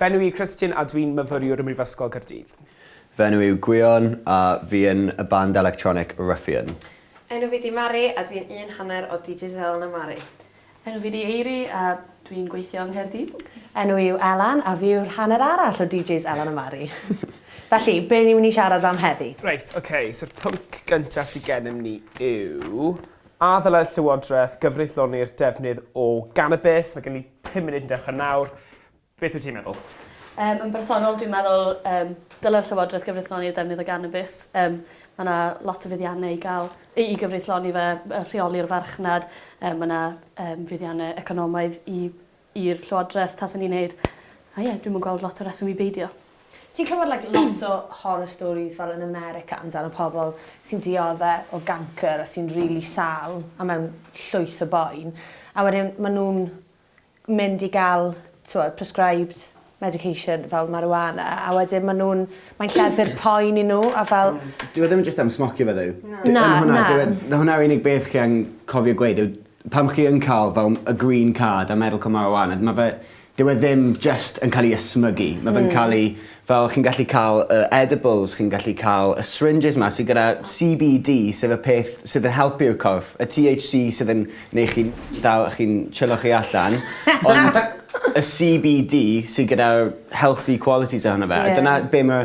Fy enw i Christian a dwi'n myfyriwr ym Mhrifysgol Caerdydd. Fy enw yw Gwion a fi yn y band electronic Ruffian. Enw fi di Mari a dwi'n un hanner o Digicel na Mari. Enw fi di Eiri a dwi'n gweithio yng Nghaerdydd. Enw i yw Elan a fi yw'r hanner arall o DJs Elan a Mari. Felly, be ni'n mynd i siarad am heddi? Reit, ok, so'r pwnc gynta sy gennym ni yw, a ddylai'r Llywodraeth gyfreithloni'r defnydd o ganabis? Mae gen i 5 munud yn dechrau nawr. Beth wyt ti'n meddwl? Um, yn bersonol, dwi'n meddwl um, dylai'r Llywodraeth gyfreithloni'r defnydd o ganabis. Um, mae yna lot o fuddiannau i gael i, i gyfreithloni fe, rheoli'r farchnad. Um, mae yna um, fuddiannau economaidd i'r Llywodraeth tas yn ei wneud. A ie, yeah, dwi'n mwyn gweld lot o reswm i beidio. Ti'n clywed like lot o horror stories fel yn America amdano pobl sy'n diodde o gancr a sy'n rili sâl a mewn llwyth o boen a wedyn ma' nhw'n mynd i ga'l t'wod prescribed medication fel marijuana a wedyn ma' nhw'n mae'n lleddfu'r poen i nhw a fel... Dyw e ddim jyst am smocio fe ddo. Na na. Dyw e... Hwnna yw'r unig beth chi angen cofio gweud yw Pan chi yn ca'l fel y green card a medical marijuana ma' fe dyw e ddim jyst yn ca'l 'i ysmygu ma' fe'n ca'l 'i fel chi'n gallu ca'l y edibles chi'n gallu ca'l y syringes 'ma sy gyda See Bee Dee sef y peth sydd yn helpu'r corff y Tee Haitch See sydd yn neu' chi'n dal chi'n chillo chi allan ond y See Bee Dee sy gyda'r healthy qualities ohono fe a dyna be' ma'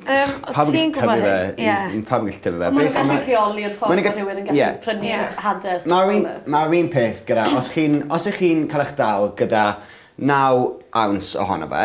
Yym o' ti'n gwbo hyn? Pawb yn gallu tyfu fe. Ie. He's he pawb yn gallu tyfu fe. Be' sy'n... Ma' n'w gallu rheoli'r ffordd ma' rhywun yn gallu... Ie. ...prynu hade a stwff fel 'a. Ma'r un ma'r un peth gyda os chi'n os 'ych chi'n ca'l 'ych dal gyda naw ounce ohono fe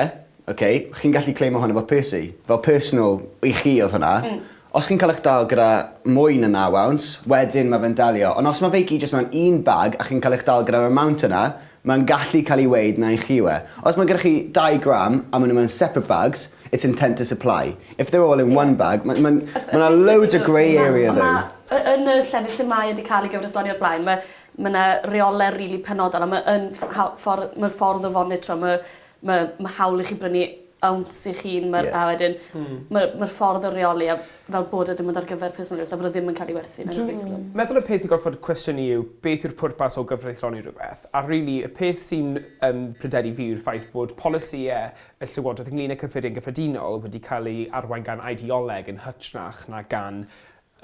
oce chi'n gallu claimo hwnna fel pursey fel personal i chi odd hwnna. Hmm. Os chi'n ca'l 'ych dal gyda mwy na naw ounce wedyn ma' fe'n dalio on' os ma' fe i gyd jyst mewn un bag a chi'n ca'l eich dal gyda'r amount yna Mae'n gallu cael ei weud na i chi yw e. Os mae gyda chi dau gram a maen nhw mewn separate bags, it's intent to supply. If they're all in one bag, ma- ma'n... ma' 'na loads o grey area though. Ma' ma' yy yn y llefydd lle mae e 'di ca'l ei gyfreithloni o'r blaen ma' ma' 'na reole rili penodol a ma' yn ff- ha- ffor- ma'r ffordd o fonitro ma' ma' ma' hawl i chi brynu ounce eich hun ma'r... Ie. ...a wedyn... Hmm. ...ma' ma'r ffordd o reoli a fel bod e dim ond ar gyfer personol use a bod e ddim yn ca'l 'i werthu na dim byd fel 'a. Dwi meddwl y peth i gorffod cwestiynu yw beth yw'r pwrpas o gyfreithloni rhywbeth a rili y peth sy'n yn pryderu fi yw'r ffaith bod polisïe y llywodraeth ynglŷn â cyffuriau'n gyffredinol wedi cael ei arwain gan ideoleg yn hytrach na gan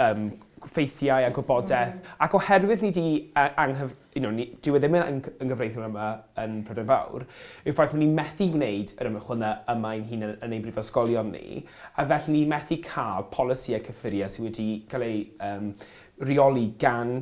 yym ffeithiau a gwybodaeth ac oherwydd ni 'di yy anghyf- you know ni... Dyw e ddim yn yng- yn gyfreithiol yma yn Prydain Fawr yw'r ffaith bod ni'n methu gwneud yr ymchwil 'na yma ein hunan yn ein brifysgolion ni a felly ni methu ca'l polisïau cyffuriau sy wedi ca'l eu yym rheoli gan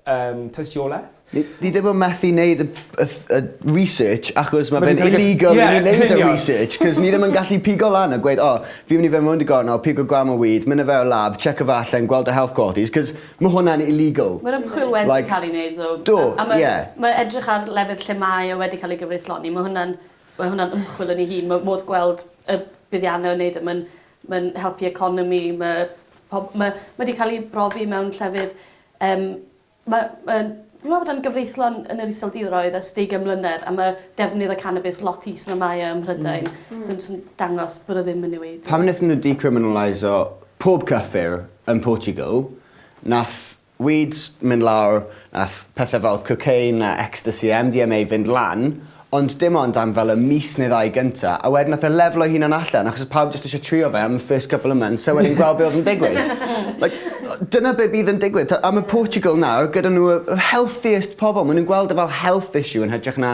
Yym tystiolaeth. Ni ni ddim yn methu neud y y ff- y research achos ma' fe'n illegal i ni neud y research 'c'os ni ddim yn gallu pigo lan a gweud o fi'n myn' i fyn' rownd y gornel pigo gram o weed myn' â fe o'r lab checio fe allan gweld y health qualities 'c'os ma' hwnna'n illegal. Ma'r ymchwil wedi... Like... ...ca'l 'i neud ddo. Do, ie. A ma' ma' edrych ar lefydd lle mae e wedi ca'l ei gyfreithloni ma' hwnna'n ma' hwnna'n ymchwil yn ei hun ma' modd gweld y buddianne o neud e ma'n Mae'n helpu economi, mae pob... Mae mae 'di ca'l 'i brofi mewn llefydd yym ma' ma'n fi'n meddwl bod e'n gyfreithlon yn yr Iseldiroedd ers deugain mlynedd a ma' defnydd y canabis lot is na mae e ym Mhrydain. Hmm. Hmm. Sy'n sy'n dangos bod o ddim yn newid. Pan nethon n'w decriminaliso pob cyffur yn Portugal nath Weeds mynd lawr, nath pethe fel cocaine a ecstasy a MDMA fynd lan, ond dim ond am fel y mis neu ddau gynta, a wedyn nath e leflo'i hunan allan achos odd pawb jyst isio trio fe am y first couple of months a wedyn gweld be' odd yn digwydd. Like o- dyna be' bydd yn digwydd t'o' a ma' Portugal nawr gyda n'w y y healthiest pobol ma' nw'n gweld e fel health issue yn hytrach na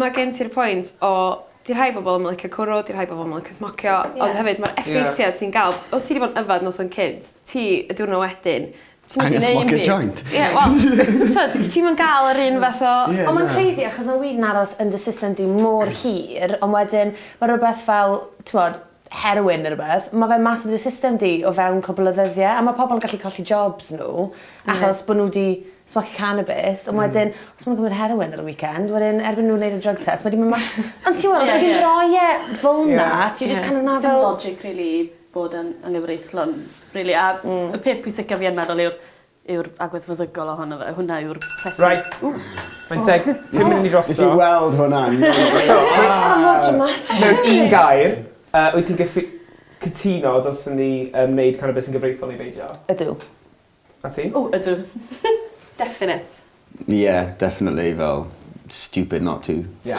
Ma' gen ti'r pwynt o 'di rhai bobol 'im yn licio cwrw 'di rhai bobol 'im yn licio smocio. Ie. Ond hefyd ma'r effeithia ti'n ga'l os ti 'di bod yn yfed noson cynt ti y diwrno wedyn ti'm yn gneud 'im byd. Angen smocio joint. Ie wel t'od ti'm yn ga'l yr un fath o... Ie na. Ond ma'n crazy achos ma' weed yn aros yn dy system di mor hir on' wedyn ma' rwbeth fel t'mod heroin neu rhywbeth, ma' fe mas o dy system di o fewn cwpl o ddyddie a ma' pobol yn gallu colli jobs n'w achos bo' n'w 'di smocio cannabis on' wedyn os ma' nw'n cymryd heroin ar y weekend wedyn erbyn n'w neud y drug test ma' 'di myn' mas. Ond t'mod os ti'n roi e fel 'na ti jyst kind of 'na fel... Sdim logic rili bod yn anghyfreithlon rili a... Hmm. ...y peth pwysica fi yn meddwl yw'r yw'r agwedd feddygol ohono fe. Hwnna yw'r rhes-... Reit. Ww. Mae'n deg pum munud i ni drosto. Nes i weld hwnna yn So rei- Ma' mor dramatic. Mewn un gair yy wyt ti'n gyffi- cytuno dylswn ni yym neud cannabis yn gyfreithiol neu beidio? Ydw. A ti? O ydw. Definate. Ie definitely fel stupid not to. Ie.